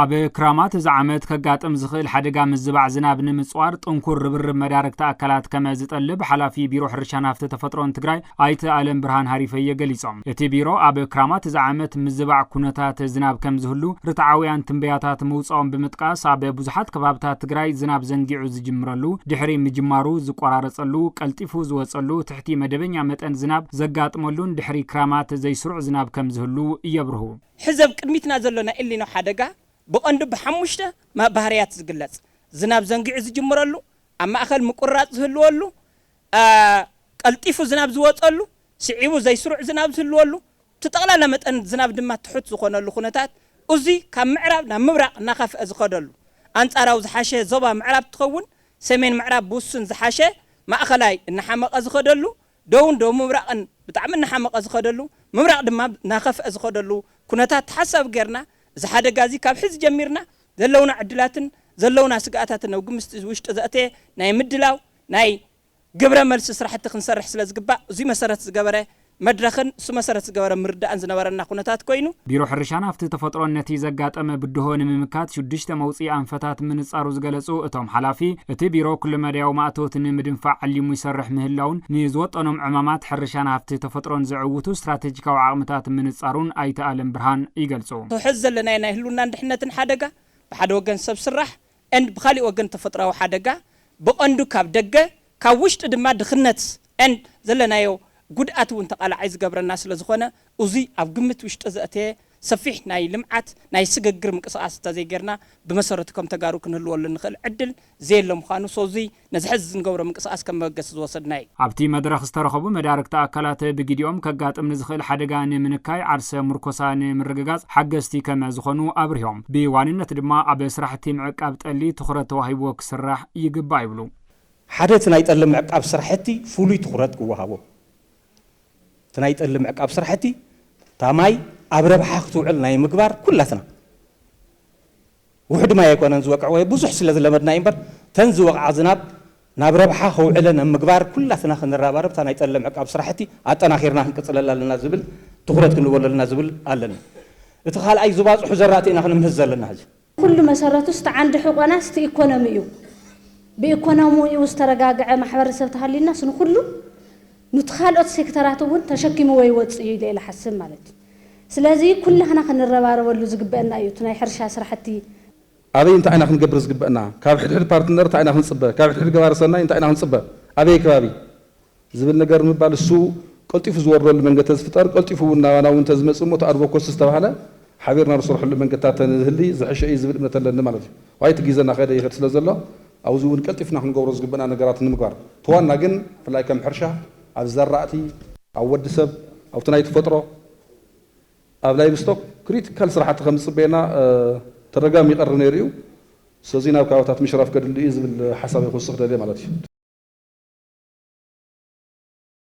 ኣብ ክራማት እዚ ዓመት ከጋጥም ዝኽእል ሓደጋ ምዝባዕ ዝናብ ንምፅዋር ጥንኩር ርብርብ መዳርግቲ ኣካላት ከመ ዝጠልብ ሓላፊ ቢሮ ሕርሻን ሃፍቲ ተፈጥሮን ትግራይ ኣይተ ኣለም ብርሃን ሃሪፈየ ገሊፆም። እቲ ቢሮ ኣብ ክራማት እዚ ዓመት ምዝባዕ ኩነታት ዝናብ ከምዝህሉ ርትዓውያን ትንበያታት ምውፀኦም ብምጥቃስ ኣብ ብዙሓት ከባብታት ትግራይ ዝናብ ዘንጊዑ ዝጅምረሉ፣ ድሕሪ ምጅማሩ ዝቆራረፀሉ፣ ቀልጢፉ ዝወፀሉ፣ ትሕቲ መደበኛ መጠን ዝናብ ዘጋጥመሉን ድሕሪ ክራማት ዘይስሩዕ ዝናብ ከም ዝህሉ የብርሁ። ሕዚ ኣብ ቅድሚትና ዘሎ ናይ ኤልኒኖ ሓደጋ ብቐንዱ ብሓሙሽተ ባህርያት ዝግለጽ፣ ዝናብ ዘንጊዑ ዝጅምረሉ፣ ኣብ ማእከል ምቁርራጽ ዝህልወሉ፣ ቀልጢፉ ዝናብ ዝወጸሉ፣ ስዒቡ ዘይስሩዕ ዝናብ ዝህልወሉ፣ እቲ ጠቕላላ መጠን ዝናብ ድማ ትሑት ዝኾነሉ ኩነታት፣ እዙይ ካብ ምዕራብ ናብ ምብራቕ እናኸፍኣ ዝኸደሉ፣ ኣንጻራዊ ዝሓሸ ዞባ ምዕራብ ትኸውን። ሰሜን ምዕራብ ብውሱን ዝሓሸ፣ ማእኸላይ እናሓመቐ ዝኸደሉ፣ ደቡብን ደቡብ ምብራቕን ብጣዕሚ እናሓመቐ ዝኸደሉ፣ ምብራቕ ድማ እናኸፍኣ ዝኸደሉ ኩነታት ተሓሳቢ ገይርና እዚ ሓደጋ እዚ ካብ ሕዚ ጀሚርና ዘለውና ዕድላትን ዘለውና ስግኣታትን ኣብ ግምስቲ ውሽጢ ዘእተየ ናይ ምድላው ናይ ግብረ መልሲ ስራሕቲ ክንሰርሕ ስለ ዝግባእ እዙይ መሰረት ዝገበረ መድረኽን እሱ መሰረት ዝገበረ ምርዳእን ዝነበረና ኩነታት ኮይኑ፣ ቢሮ ሕርሻን ሃፍቲ ተፈጥሮን ነቲ ዘጋጠመ ብድሆ ንምምካት ሽዱሽተ መውፅኢ ኣንፈታት ምንፃሩ ዝገለፁ እቶም ሓላፊ፣ እቲ ቢሮ ኩለመዳያዊ ማእቶት ንምድንፋዕ ዓሊሙ ይሰርሕ ምህላዉን ንዝወጠኖም ዕማማት ሕርሻን ሃፍቲ ተፈጥሮን ዘዕውቱ ስትራቴጂካዊ ዓቕምታት ምንፃሩን ኣይተ ኣለምብርሃን ይገልፁ። ሐዚ ዘለናዮ ናይ ህልውናን ድሕነትን ሓደጋ ብሓደ ወገን ሰብ ስራሕ and ብኻሊእ ወገን ተፈጥሮኣዊ ሓደጋ ብቐንዱ ካብ ደገ ካብ ውሽጢ ድማ ድኽነት and ዘለናዮ ጉድኣት እውን ተቓላዓይ ዝገብረና ስለዝኾነ እዙይ ኣብ ግምት ውሽጢ ዘእተየ ሰፊሕ ናይ ልምዓት ናይ ስግግር ምንቅስቓስ እንተዘይገይርና ብመሰረቱ ከም ተጋሩ ክንህልወሉ እንኽእል ዕድል ዘየለ ምዃኑ so እዙይ ነዚ ሐዚ እንገብሮ ምንቅስቓስ ከም መበገሲ ዝወሰድናዮ እዩ። ኣብቲ መድረኽ ዝተረኸቡ መዳርግቲ ኣካላት ብጊዲኦም ከጋጥም ንዝኽእል ሓደጋ ንምንካይ ዓርሰ ሙርኮሳ ንምርግጋፅ ሓገዝቲ ከመ ዝኾኑ ኣብሪሆም። ብዋንነት ድማ ኣብ ስራሕቲ ምዕቃብ ጠሊ ትኹረት ተዋሂብዎ ክስራሕ ይግባእ ይብሉ። ሓደ እቲ ናይ ጠሊ ምዕቃብ ስራሕቲ ፍሉይ ትኹረት ክወሃቦ። እቲ ናይ ጠሊ ምዕቃብ ስራሕቲ እታ ማይ ኣብ ረብሓ ክትውዕል ናይ ምግባር ኩላትና ውሑድ ማይ ኣይኮነን ዝወቅዕ ወይ ብዙሕ ስለ ዝለመድና እዩ እምበር እተን ዝወቕዓ ዝናብ ናብ ረብሓ ክውዕለን ኣብ ምግባር ኩላትና ክንረባረብ እታ ናይ ጠለብ ምዕቃብ ስራሕቲ ኣጠናኺርና ክንቅፅለላ ኣለና ዝብል ትኹረት ክንህበሉ ኣለና ዝብል ኣለኒ። እቲ ካልኣይ ዝባፅሑ ዘራእቲ ኢና ክነምህዝ ዘለና ሕዚ። ኩሉ መሰረቱ እስቲ ዓንዲ ሕቆና እስቲ ኢኮኖሚ እዩ። ብኢኮኖሚኡ ዝተረጋገዐ ማሕበረሰብ ተሃልዩናስ ንኹሉ ኑቲ ካልኦት ሴክተራት እውን ተሸኪምዎ ይወፅእ እዩ ኢለ እየ ልሓስብ ማለት እዩ። ስለዚ ኩላህና ክንረባረበሉ ዝግበእና እዩ እቲ ናይ ሕርሻ ስራሕቲ። ኣበይ እንታይ ኢና ክንገብር ዝግበእና? ካብ ሕድሕድ ፓርትነር እንታይ ኢና ክንፅበ? ካብ ሕድሕድ ገባሪ ሰናይ እንታይ ኢና ክንፅበ? ኣበይ ከባቢ? ዝብል ነገር ንምባል እሱ ቀልጢፉ ዝወርደሉ መንገዲ ተዝፍጠር ቀልጢፉ እውን ናባና እውን ተዝመፅእ እሞ እቲ ኣድቮኮሲ ዝተባህለ ሓቢርና ንሰርሐሉ መንገድታት ተዝህሊ ዝሐሸ እዩ ዝብል እምነት ኣለኒ ማለት እዩ። ዋይ እቲ ጊዘ ናኸደ ይኸድ ስለዘሎ ኣብዚ እውን ቀልጢፍና ክንገብሮ ዝግበእና ነገራት ንምግባር እቲ ዋና ግን ብፍላይ ከም ሕርሻ ኣብ ዘራእቲ፣ ኣብ ወዲ ሰብ፣ ኣብቲ ናይ ትፈጥሮ፣ ኣብ ላይቭስቶክ ክሪቲካል ስራሕቲ ከም ዝፅበየና ተደጋሚ ይቐርብ ነይሩ እዩ። ስለዙይ ናብ ከባብታት ምሽራፍ ከድሊ እዩ ዝብል ሓሳበይ ክውስኽ ደልየ ማለት እዩ።